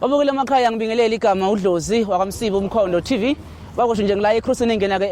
Obukile emakhaya ngibingelele igama uDlozi wakamsiba umkhondo TV wakusho nje ngila ecrossing engena ke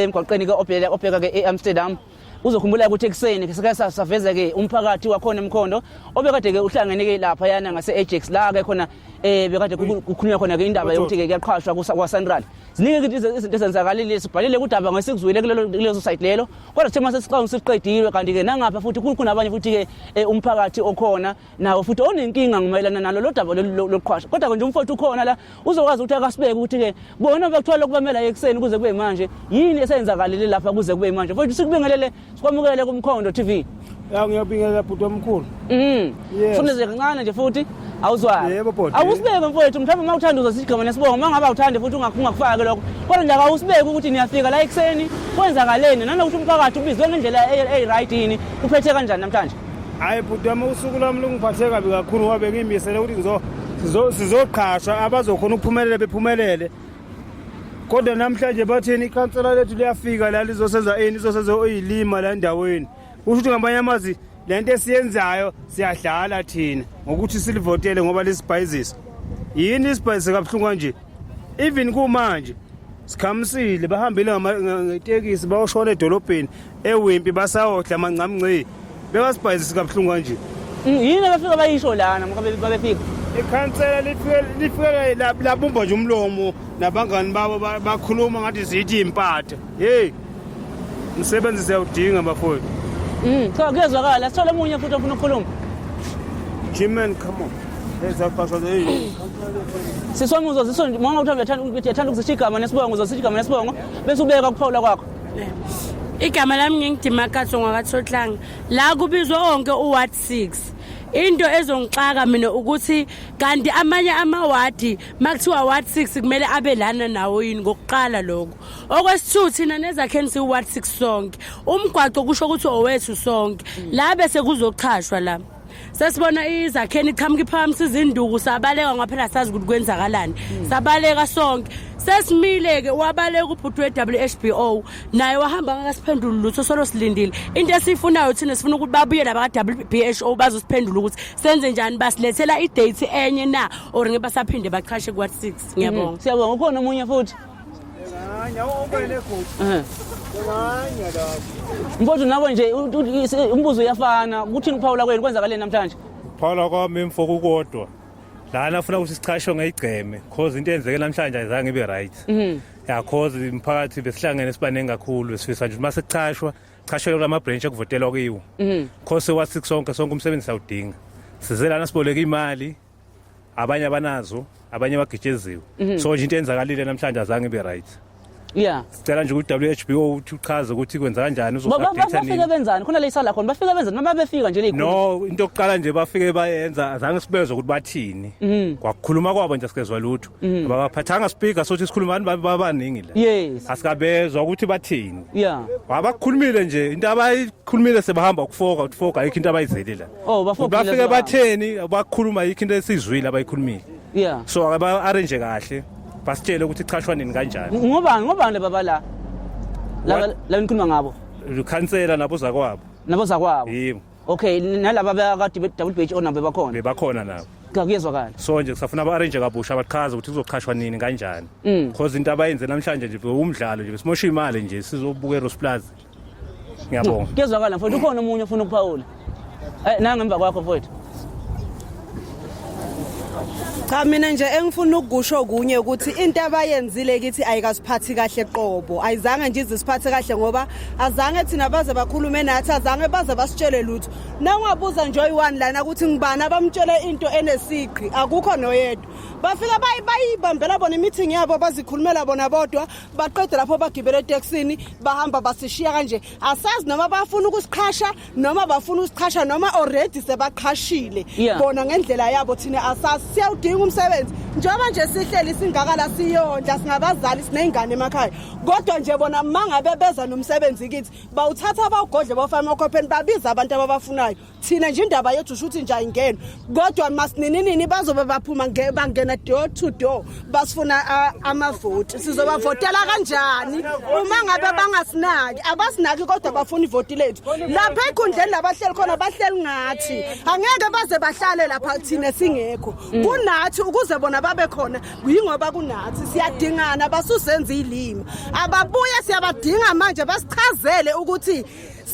emgwaqeni ke obheka obheka ke eAmsterdam uzokhumbula ukuthi ekuseni sike saveza ke umphakathi wakhona emkhondo obekade ke uhlangene ke lapha yana ngase Ajax la ke khona eh bekade kukhulunywa khona ke indaba yokuthi ke kuyaqhashwa kwa Sanral ziningi izinto ezenzakalile sibhalile kudaba ngesikuzwile kulezo site lelo kodwa kuthe mase siqhawe siqedilwe kanti ke nangapha futhi kukhona abanye futhi ke eh, umphakathi okhona nawo futhi onenkinga ngomayelana nalo lo daba loqhwasha kodwa-ke nje umfowethu ukhona la uzokwazi ukuthi akasibeke ukuthi-ke bona bekuthiwa lokhu bamela ekuseni kuze kube manje yini esenzakalele lapha kuze kube manje mfowethu sikubingelele sikwamukele kumkhondo t v ya ngiyabingelela bhuti omkhulu mm funeze kancane nje futhi awuzwani yebo bhuti awusibeke mfowethu mhlawumbe uma uthanda uzosigqoma nesibongo uma ngabe awuthandi futhi ungakufaki lokho kodwa nje akawusibeki ukuthi niyafika la ekuseni kwenzakaleni nanokuthi umphakathi ubizwe ngendlela eyi-right yini uphethe kanjani namhlanje hayi bhuti wami usuku lwami lungiphathe kabi kakhulu ngoba bengiyimisele ukuthi sizoqhashwa abazokhona ukuphumelela bephumelele kodwa namhlanje bathini ikhansela lethu liyafika la lizosenza ini izosenza oyilima la endaweni kusho ukuthi ngamanye amazi le nto esiyenzayo siyadlala thina ngokuthi silivotele ngoba lisibhayizisa yini isibhayizisa kabuhlungu kanje even kumanje sikhamisile bahambile ngetekisi bayoshona edolobheni ewimpi basawohla amangcamngcii bekasibhayizisi kabuhlungu kanje mm, yini abafika bayisho lana ngoba babefika ikhansela lifike labumba nje umlomo nabangani babo bakhuluma ngathi zithi impatha yeyi umsebenzi siyawudinga bafowethu mm, cha kuyezwakala sithole omunye futhi ofuna ukukhuluma jiman come on siswami uzozisonje manga uthi uyathanda ukuzishiya igama nesibongo uzozishiya igama nesibongo bese ubeka ukuphawula kwakho igama lami ngingidimakaso ngwakathotlanga la kubizwa onke uward 6 into ezongixaka mina ukuthi kanti amanye amawadi makuthiwa ward 6 kumele abe lana nawo yini ngokuqala lokho okwesithu thina nezakheni siwu ward 6 sonke umgwaco kusho ukuthi owethu sonke la bese kuzochashwa la sesibona izakheni iqhamuka iphakamisa izinduku sabaleka ngoba phela sazi ukuthi kwenzakalani hmm. sabaleka sonke sesimile-ke wabaleka ubhuti we-wh b o naye wahamba ngakasiphenduli lutho solo silindile into esiyifunayo thina sifuna ukuthi babuye nabaka-w b h o bazosiphendula ukuthi senze njani basilethela idate enye na or ngebasaphinde baqhashe kwa-six ngiyabonga hmm. siyabonga ukhona omunye futhi Mfowethu nabo nje umbuzo uyafana kuthini ukuphawula kwenu kwenzakaleni namhlanje? Phawula kwami mfo kukodwa. Lana afuna ukuthi sichashwe ngeyigceme because into eyenzeke namhlanje ayizange ibe right. Mhm. Ya cause imphakathi besihlangene sibaningi kakhulu besifisa nje uma sekuchashwa chashwe kula ma branch ekuvotelwa kiwo. Mhm. Cause wa 6 sonke sonke umsebenzi sawudinga. Size lana siboleka imali abanye abanazo abanye bagitsheziwe mhm. so nje into enzakalile namhlanje azange ibe right yeah sicela nje ukuthi WHBO uthi uchaze ukuthi kwenza kanjani uzosabhetha nini bafike benzani khona leyisa la khona bafike benzani noma befika nje leyikhulu no into yokuqala nje bafike bayenza azange sibezwe ukuthi bathini mhm. kwakhuluma kwabo nje sikezwa lutho mhm. abaphathanga speaker sothi sikhulumani babaningi la yes asikabezwa ukuthi bathini yeah wabakhulumile nje into abayikhulumile sebahamba ukufoka ukufoka ayikho into abayizeli la Oh bafo bafike batheni bakhuluma yikho into esizwile abayikhulumile. Yeah. So aba arrange kahle. Basitshele ukuthi ichashwa nini kanjani. Ngoba ngoba laba bala. Laba laba nikhuluma ngabo. Ukhansela nabo zakwabo. Nabo zakwabo. Yebo. Okay nalaba abakade be double page onabe bakhona. Bebakhona nabo. cha kuyezwakala so nje kusafuna aba-arrange kabusha abachaze ukuthi kuzoqhashwa nini kanjani because mm. into abayenze namhlanje nje umdlalo nje besimosha imali nje sizobukela usiplazi ngiyabonga kuyezwakala mfowethu ukhona omunye ofuna ukuphawula eh nanga emva kwakho mfowethu cha mina nje engifuna ukukusho kunye ukuthi into abayenzile kithi ayikasiphathi kahle qobo ayizange nje izisiphathe kahle ngoba azange thina baze bakhulume nathi azange baze basitshele lutho nangabuza nje oyi-one lana ukuthi ngibani abamtshele into enesiqhi akukho noyedwa bafika bayibambela bona imithingi yabo bazikhulumela bona bodwa baqede lapho bagibele etekisini bahamba basishiya kanje asazi noma bafuna ukusiqhasha noma bafuna usiqhasha noma already sebaqhashile bona ngendlela yabo thina asazi siyawudinga umsebenzi njengoba nje sihleli singakala siyondla singabazali siney'ngane emakhaya kodwa nje bona mangabe beza nomsebenzi kithi bawuthatha bawugodle bawufake emakhopheni babiza abantu ababafunayo thina nje indaba yethu shuthi nje ayingeni kodwa masinininini bazobe baphuma bangena door to door basifuna amavoti sizobavotela kanjani uma ngabe bangasinaki abasinaki kodwa bafuna ivoti lethu lapha ekhundleni labahleli khona bahleli ngathi angeke baze bahlale lapha thina singekho kunathi ukuze bona babe khona yingoba kunathi siyadingana basusenza ilima ababuye siyabadinga manje basichazele ukuthi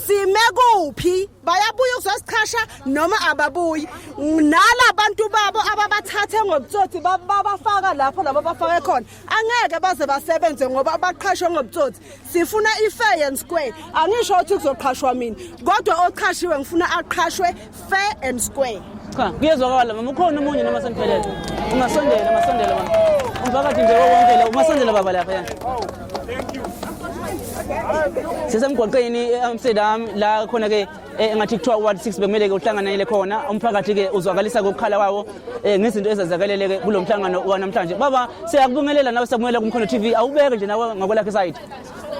sime kuphi bayabuya ukuzosichasha noma ababuyi nala bantu babo ababathathe ngobutsotsi babafaka lapho labo bafake khona angeke baze basebenze ngoba abaqhashwe ngobutsotsi sifuna i-fair and square angisho ukuthi kuzoqhashwa mina kodwa oqhashiwe ngifuna aqhashwe fair and square cha kuyezwakala mama ukhona omunye noma seniphelele ungasondela ungasondela mama umphakathi nje wonke la ungasondela baba lapha sisemgwaqeni e-amsterdam eh, la khona-ke eh, engathi kuthiwa uward six bekumele-ke uhlanganele khona umphakathi-ke uzwakalisa kokukhala kwawo um eh, ngezinto ezazakalele-ke kulo mhlangano wanamhlanje baba siyakubingelela nawe sakubingelela kumkhono t v awubeke nje nawe ngakwelakho isayidi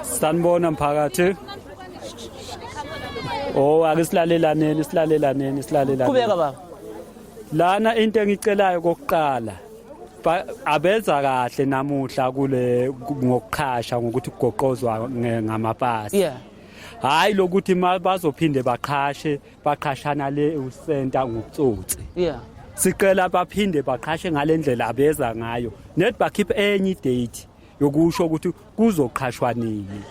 sanibona mphakathi o oh, ake silalelaneni silalelaneni silalelaneni kubeka baba lana into engicelayo kokuqala abenza kahle namuhla kule ngokuqhasha ngokuthi kugoqozwa ngamapasi yeah hayi lokuthi bazophinde baqhashe baqhashana le usenta ngokutsotsi yeah sicela baphinde baqhashe ngalendlela abeza ngayo net bakhiphe enye idate yokusho ukuthi kuzoqhashwa nini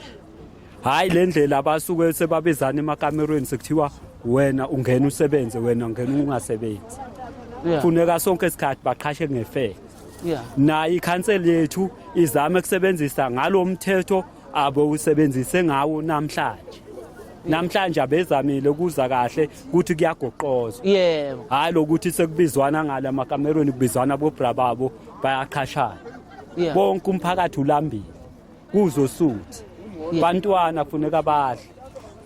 hhayi le ndlela abasuke sebabizana emakamerweni sekuthiwa wena ungena usebenze wena ungena ungasebenzi funeka sonke isikhathi baqhashe ngefele nayo ikhanseli yethu izame kusebenzisa ngalo mthetho abo usebenzise ngawo namhlanje namhlanje abezamile kuza kahle ukuthi kuyagoqoza yebo hayi lokuthi sekubizwana ngala makamerweni kubizwana bobra babo bayaqhashana yeah. bonke umphakathi ulambile kuzosuthi yeah. bantwana kufuneka badle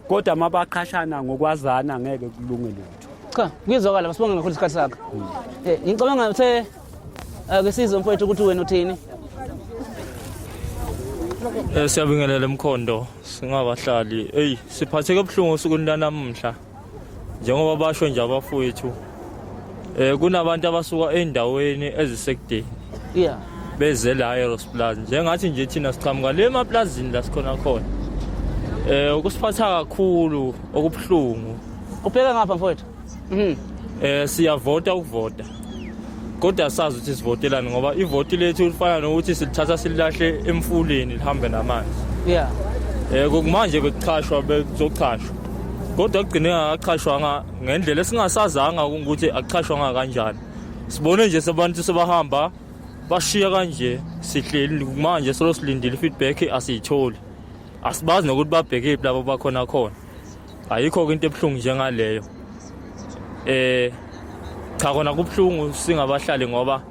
kodwa mabaqhashana ngokwazana ngeke kulunge lutho cha kuyizwakala masibonge kakhulu isikhathi sakho hmm. eh, ngicabanga ukuthi eh, ake sizwe mfowethu ukuthi wena uthini Eh, siyabingelela emkhondo singabahlali eyi siphatheke buhlungu osukwini lanamuhla njengoba basho nje abafowethu eh kunabantu abasuka endaweni ezisekudeni yeah beze la eRosplaza njengathi nje thina siqhamuka le maplazini la sikhona khona eh ukusiphatha kakhulu okubuhlungu ubheka ngapha mfowethu mhm eh siyavota ukuvota kodwa sazi ukuthi sivotelani ngoba ivoti lethu lifana nokuthi silithatha sililahle emfuleni lihambe namanzi yeah eh kumanje bekuchashwa bekuzochashwa kodwa kugcine akachashwanga ngendlela esingasazanga ukuthi akuchashwanga kanjani sibone nje sebantu sebahamba bashiya kanje sihleli kumanje solo silindile feedback asiyitholi asibazi nokuthi babhekephi labo bakhona khona ayikho-ke into ebuhlungu njengaleyo eh cha kona kubuhlungu singabahlali ngoba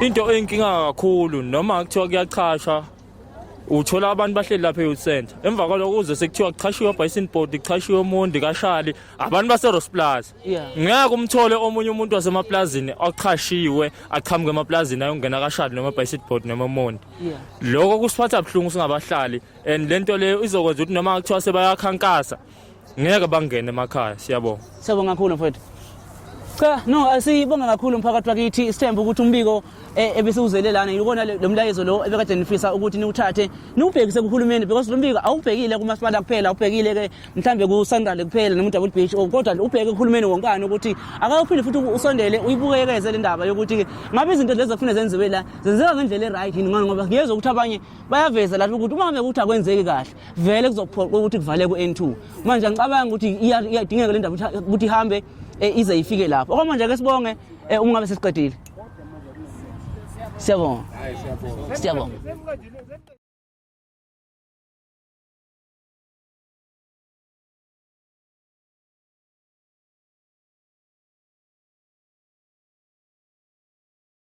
into enkinga kakhulu noma kuthiwa kuyachasha uthola abantu bahleli lapha e-youth center emva kwaloko kuze sekuthiwa kuchashiwe obison board kuchashiwe umundi kashali abantu base-rose plaza ngeke umthole omunye umuntu wasemaplazini ochashiwe aqhamuke emaplazini ayongena kashali noma ebison board noma umundi loko kusiphatha buhlungu singabahlali and lento leyo izokwenza ukuthi noma kuthiwa sebayakhankasa ngeke bangene emakhaya siyabonga siyabonga kakhulu mfowethu cha no asiyibonga kakhulu umphakathi wakithi sithemba ukuthi umbiko eh, ebesiwuzele lana yikona lo mlayezo lo ebekade nifisa ukuthi niwuthathe niwubhekise kuhulumeni because lo mbiko awubhekile kumasipala kuphela awubhekile ke mhlambe ku-sandale kuphela noma udouble beach oh, kodwa ubheke kuhulumeni wonkani ukuthi akawuphinde futhi usondele uyibukekeze le ndaba yokuthi ngabe izinto lezi ekufune zenziwe la zenzeka ngendlela e-right yini ngoba ngiyezwa ukuthi abanye bayaveza lapho ukuthi uma bekuthi akwenzeki kahle vele kuzophoqa ukuthi kuvale ku-n2 manje ngicabanga ukuthi iyadingeka le ndaba ukuthi ihambe eh, ize ifike lapho okwamanje ke sibonge eh, uma ngabe sesiqedile siyabonga siyabonga